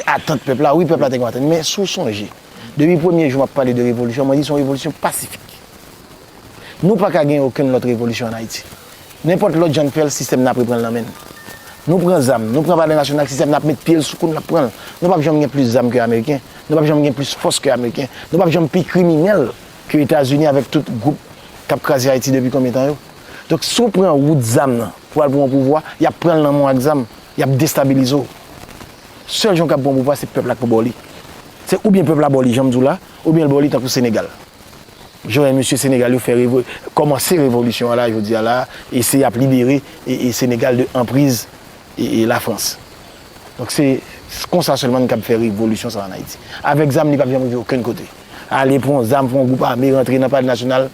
atant pèp la, wi pèp la te konn atant, men si w sonje, depi premye jou m ap pale de revolisyon, mwen di se yon revolisyon pasifik. Nou pa ka gen okenn lòt revolisyon an Ayiti. Nenpòt lòt jan n fè l, sistèm nan ap repran l nan men n. Nou pran zam, nou pran palè nasyonal, sistèm nan ap met pye l sou kou n, l ap pran l. Nou p ap janm gen plis zam ke ameriken, nou p ap janm gen plis fòs ke ameriken, nou p ap janm pi kriminèl ke Etazini avèk tout gwoup k ap kraze Ayiti depi konbyen tan yo. Donk si w pran wout zam nan pou w al pou yon pouvwa, y ap pran l nan men w ak zam. Y ap destabilize w. Sèl jan w kab pran pouvwa se pèp la k pou ba w li. Se oubyen pèp la ba w li jan m di w la, oubyen l ba w li tankou Senegal. Jan wè mesye Senegal yo fè revo, kòmanse revolisyon an la jodi a la, e se y ap libere Senegal de anpriz Lafrans. Donk se konsa sèlman n kab fè revolisyon sa an Ayiti. Avèk zam li p ap janm rive okenn kote. Ale pran w zam, pran w gwoup ame, rantre nan palè nasyonal,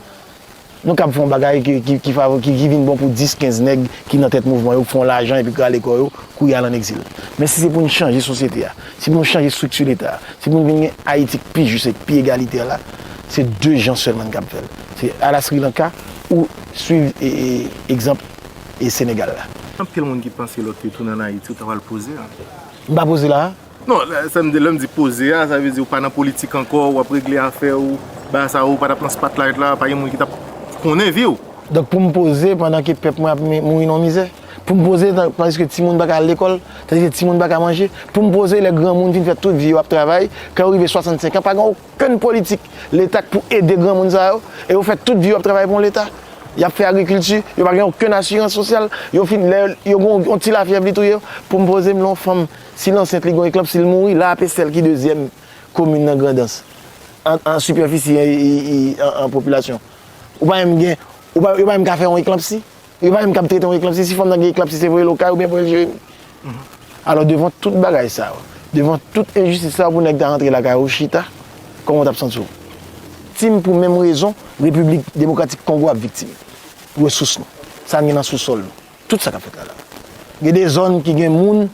Nou kab fè yon bagay ki vin bon pou 10, 15 nèg ki nan tèt mouvman yo, pou fè yon lajan epi kale kò yo, kouri al an egzil. Men si se pou n chanje sosyete a, si pou nou chanje estrikti Leta a, si pou nou vin gen Ayiti k pi jis e k pi egalitè la, se 2 jan sèlman n kab fè l. Se a la Sri Lanka ou suiv egzanp Senegal la. Anpil moun ki panse lòt yo tounen an Ayiti ou ta pral poze a. M pa poze la a. Non, sa m di, lè m di poze a, sa vle di ou pa nan politik ankò, ou ap regle afè ou, bagay sa ou pa t ap nan spotlight la, pa gen moun ki t ap konnen vi w. Donk pou m poze pandan ke pèp mwen ap mouri nan mizè? Pou m poze tandiske timoun pa ka al lekòl, tandiske timoun pa ka manje? Pou m poze lè granmoun fin fè tout vi yo ap travay, kan yo rive 65 an pa gen okenn politik leta k pou ede granmoun sa yo? E yo fè tout vi yo ap travay pou yon leta? Y ap fè agrikilti, yo pa gen okenn asirans sosyal, yo fin lè yo gen yon ti lafyèv li touye yo? Pou m poze m lè yon fanm Si l ansent li gon eklòp si l mouri la ape sèl ki dezyèm komin nan grandans an sipèfisi an popilasyon ou pa menm gen yo pa menm ka fè yon eklanpsi yo pa menm kab trete yon eklanpsi si fanm nan gen eklanpsi se voye l okay oubyen voye l jeremi alò devan tout bagay sa yo devan tout enjistis sa yo pou nèg ta rantre lakay ou chita kòman w tap santi w tim pou menm rezon repiblik demokratik kongo ap viktim resous nou sa n gen nan sousòl nou. Tout sa kap fèt la la. Gen de zòn ki gen moun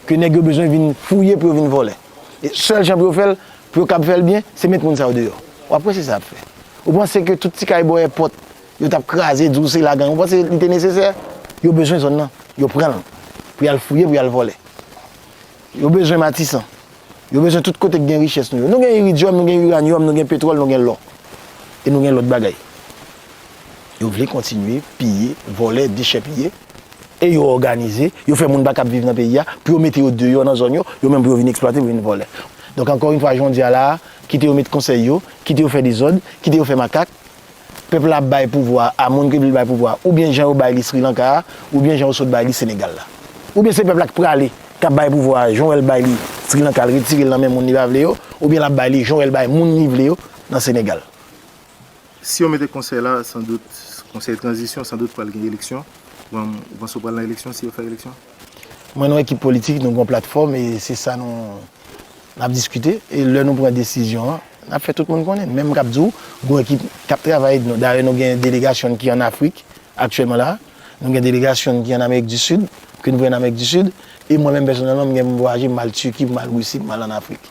ke nèg yo bezwen vin fouye pou yo vin vòlè. E sèl jan pou yo fèl, pou yo kab fèl byen, se met moun sa yo deyò. Wap wè se sa yap fè. Ou panse ke tout ti kay bò èpòt yo tap kraze, di w se la gang. Ou panse li te nesesè? Yo bezwen zòn nan, yo pranl pou yal fouye, pou yal vòlè. Yo bezwen matisan. Yo bezwen tout kote k gen richès nou yo. Nou gen iridyòm, nou gen iranyòm, nou gen petwòl, nou gen lò. E nou gen lòt bagay. Yo vle kontinye piye, vòlè, dechèpiye. E yo òganize, yo fè moun pa kab viv nan peyi a, pou yo mete yo deyò nan zòn yo, yo menm pou yo vin eksplwate, pou yo vin vòlè. Donk ankò yn fwa, jwen di a la a, kite yo met konsèy yo, kite yo fè dezòd, kite yo fè makak, pèp la ap bay pouvwa a moun ke vle l bay pouvwa a oubyen jan yo bay li Srilanka a oubyen jan yo sot bay li Senegal la. Oubyen se pèp la k prale k ap bay pouvwa a jan w wè l bay li Srilanka l retire l nan men moun li pa vle yo oubyen l ap bay li jan w wè l bay moun li vle yo nan Senegal. Si yo mete konsèy la san dout konsèy tranzisyon san dout pral gen eleksyon, ou panse yo pral nan eleksyon si yo fè eleksyon? Mwen nan ekip politik nou gen yon platfòm e se sa nou ap diskite e lè nou pran desizyon an n ap fè tout moun konnen. Menm k ap di w gen yon ekip k ap travay nou dayè nou gen delegasyon n ki ann Afrik aktyèlman la a, nou gen delegasyon n ki ann Amerik di Sid, ke n voye ann Amerik di Sid e mwen menm pèsonèlman m gen pou m vwayaje m al Tiki, pou m al Risi, pou m al ann Afrik.